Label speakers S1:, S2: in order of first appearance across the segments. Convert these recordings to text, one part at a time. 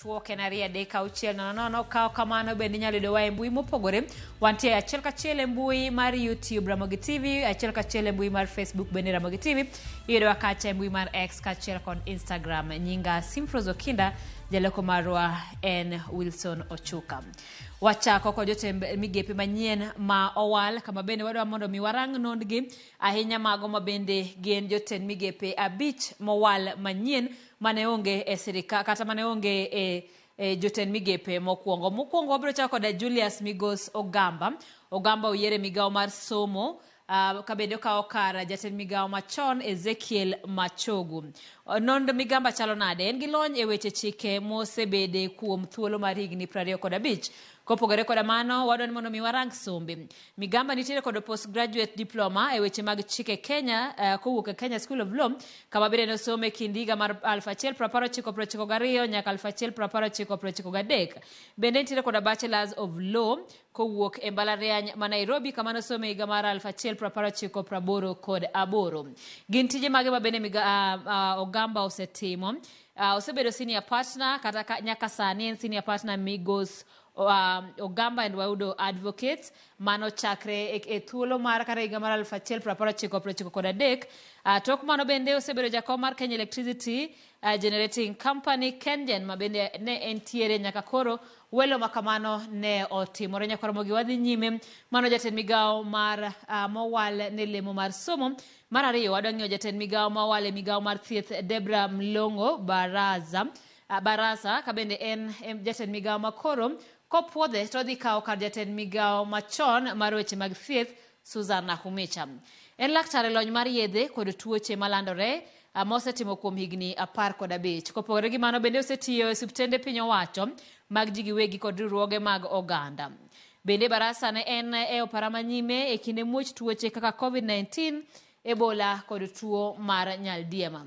S1: Twok en ariyo adek auchiel nono nono ka ok kamano bende inyalo yudowa e mbui mopogore wantie achiel kachiel e mbui mar youtube ramogi tv achiel kachiel e mbui mar facebook bende ramogi tv iyudowa kacha e mbui mar x kachiel kod instagram nyinga simfros okinda jaleko marwa en wilson ochuka wachako kod jotend migepe manyien ma owal kama bende wadwa mondo mi warang nondgi ahinya mago ma bende gin jotend migepe abich mowal manyien mane onge e sirika kata mane onge e, e jotend migepe mokwongo. Mokwongo wabiro chako koda Julius Migos Ogamba. Ogamba oyiere migawo mar somo uh, ka bende okawo kar jatend migawo machon Ezekiel Machogu. Uh, Nond Migamba chalo nade? En gi lony e weche chike mosebede kuom thuolo mar higni 25. Kopogore koda mano, wadwa ni mondo mi warang sombe. Migamba nitiere kod postgraduate diploma e weche mag chik e Kenya uh, kowuok e Kenya School of Law kama bende nosomo e kind higa mar 1992 nyaka 1993. Bende nitiere kod Bachelors of Law kowuok e mbalariany ma Nairobi kama nosomo e higa mar 1988 kod aboro. Gin tije mage ma bende miga, uh, uh, Ogamba osetimo? Uh, osebedo senior partner kata ka, nyaka sani en senior partner Migos um, Ogamba and Waudo Advocates mano chakre e, e thuolo mar kata higa mar 1993 kod adek. Uh, tok mano bende osebedo jakom mar Kenya Electricity uh, Generating Company Kengen ma bende ne entiere nyaka koro welo ma kamano ne otimore nyaka Ramogi wadhi nyime mano jatend migawo mar uh, mowal ne lemo mar somo mar ariyo wadwa ng'iyo jatend migawo mowal e migawo mar thieth Debra Mlongo Baraza A Barasa ka bende en em jatend migawo ma koro kopwodhe to odhi kawo kar jatend migawo machon mar weche mag thieth Susan Nakhumicha. En laktar e lony mar yedhe kod tuoche malandore ah, ma osetimo kuom higni apar kod abich. Kopogore gi mano bende osetiyo e osiptende piny owacho mag ji giwegi kod riwruoge mag oganda. Bende Barasa ne en e opara ma nyime e kinde muoch tuoche kaka COVID-19, Ebola kod tuo mar nyaldiema.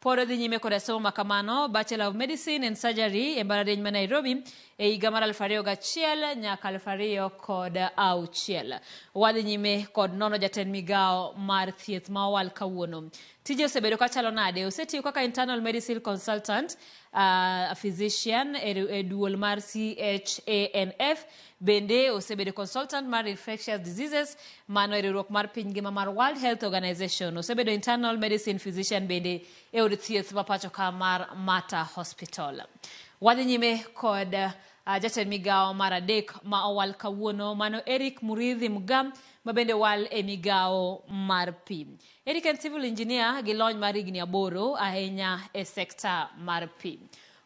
S1: Pod odhi nyime koda somo ma kamano, Bachelor of Medicine and Surgery e mbalarieny ma Nairobi e higa mar 2001 nyaka 2006. Wadhi nyime kod nono jatend migawo mar thieth ma owal kawuono. Tije osebedo ka chalo nade? Osetiyo kaka internal medicine consultant, uh, physician e, e duol mar CHANF Bende osebedo consultant mar infectious diseases mano e riwruok mar piny ngima mar World Health Organization. Osebedo internal medicine physician bende e od thieth ma pacho ka mar Mata Hospital. Wadhi nyime kod uh, jatend migawo mar adek ma owal kawuono mano Eric Muridhi Mga ma bende owal e migawo mar pi. Eric en civil engineer gi lony mar higni aboro ahinya e sekta mar pi.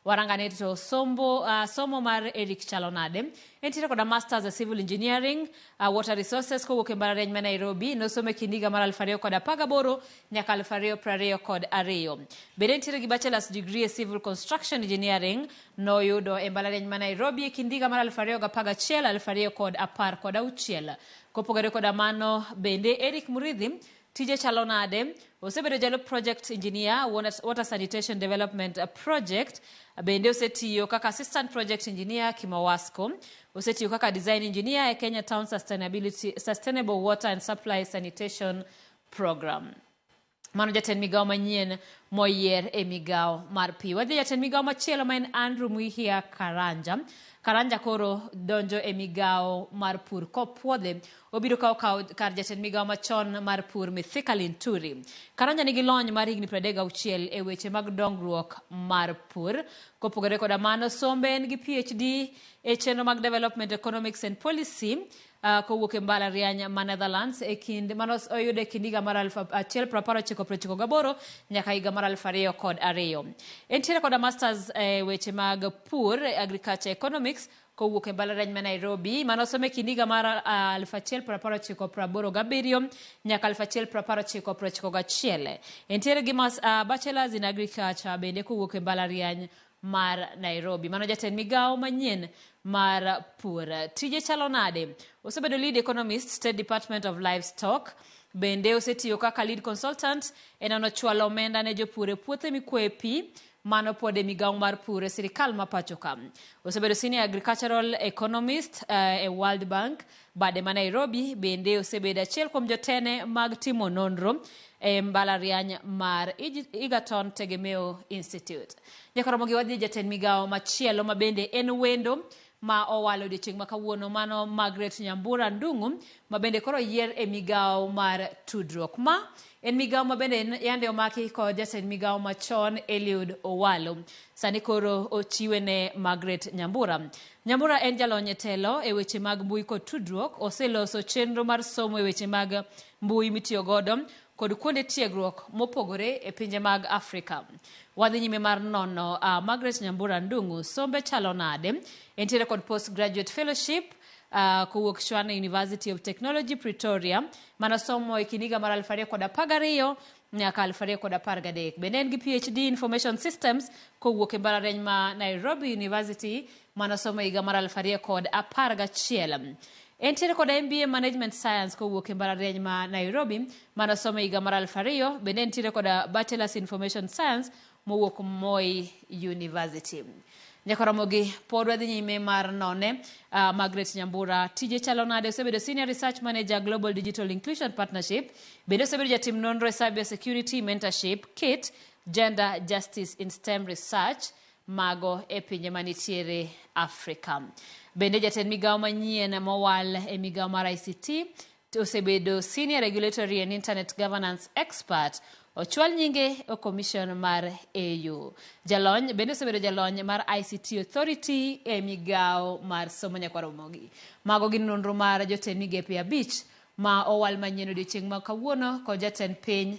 S1: Warangane to sombo, uh, somo mar Eric chalo nade. Entiere koda Masters e Civil Engineering, uh, Water Resources kowuok e mbalariany ma Nairobi. Nosomo e kind higa mar 2018 nyaka 2022. Bende entiere gi Bachelor's degree e Civil Construction Engineering. Noyudo e mbalariany ma Nairobi e kind higa mar 2011 2016. Kopogore koda mano, bende Eric Muridhi Tije chalo nade? Osebedo jalup project engineer water sanitation development project. Bende osetiyo kaka assistant project engineer Kimowasco. Osetiyo kaka design engineer e Kenya Town Sustainability Sustainable Water and Supply Sanitation Program. Mano jatend migawo manyien moyier e migawo mar pi. Wadhi jatend migawo machielo ma en Andrew Mwihia Karanja. Karanja koro donjo e migawo mar pur kopwodhe Obiro kawo kawo kar jatend migawo machon mar pur Mithika Linturi. Karanja nigi lony mar higni 36 e weche mag dongruok mar pur. Kopogore koda mano, sombe en gi PhD e chenro mag Development Economics and Policy uh, kowuok e mbalariany ma Netherlands e kind mano oyudo e kind higa mar 1998 nyaka higa mar 2002. Entiere koda masters e weche mag pur, agriculture economics kowuok e mbalariany ma Nairobi mane osomo e kind higa mar ah, 1887 nyaka 1891. Entiere gi mas, ah, bachelors in agriculture bende kowuok e mbalariany mar Nairobi. Mano jatend migawo manyien mar pur. Tije chalo nade? Osebedo lead economist, State Department of Livestock. Bende osetiyo kaka lead consultant e nono chwalo omenda ne jopur e puothe mikwoye pi Mano pod e migawo mar pur e sirikal ma pachoka. Osebedo Senior Agricultural Economist eh, e World Bank, bade ma Nairobi, bende osebedo achiel kuom jotene mag timo nonro e mbalariany mar Ig- Egerton Tegemeo Institute. Nyakoromogi wadhi jatend migawo machielo ma bende en wendo ma owal odiochieng' ma kawuono mano Margaret Nyambura Ndung'u ma bende koro yier e migawo mar tudruok. Ma en migawo ma bende yande omaki kod jatend migawo machon Eliud Owalo. Sani koro ochiwe ne Margaret Nyambura. Nyambura en jalony e telo e weche mag mbui kod tudruok. Oseloso chenro mar somo e weche mag mbui mitiyo godo. kod kuonde tiegruok mopogore e pinje mag Afrika. Wadhi nyime mar nono uh, Margaret Nyambura Ndung'u, sombe chalo nade? Entiere kod post graduate fellowship uh, kowuok Shwane University of Technology Pretoria, mano somo e kind higa mar 2012 nyaka 2013. Bende en gi PhD Information Systems kowuok e mbalariany ma Nairobi University, mano somo e higa mar 2011. Entiere koda MBA Management Science kowuok e mbalariany ma Nairobi mane osomo e higa mar aluf ariyo. Bende entiere koda Bachelors Information Science mowuok Moi University. Nyaka Ramogi, pod wadhi nyime mar none. Uh, Margaret Nyambura, tije chalo nade? Osebedo Senior Research Manager Global Digital Inclusion Partnership. Bende osebedo jatim nonro e Cyber Security Mentorship, KIT, Gender Justice in STEM Research. mago e pinje manitiere Afrika. Bende jatend migawo manyien mowal e migawo mar ICT osebedo Senior Regulatory and Internet Governance Expert ochwal nyinge e commission mar AU. Jalony bende osebedo jalony mar ICT Authority e migawo mar somo nyakwa Ramogi. Mago gin nonro mar jotend migepe abich ma owal manyien odiochieng' ma kawuono kod jatend piny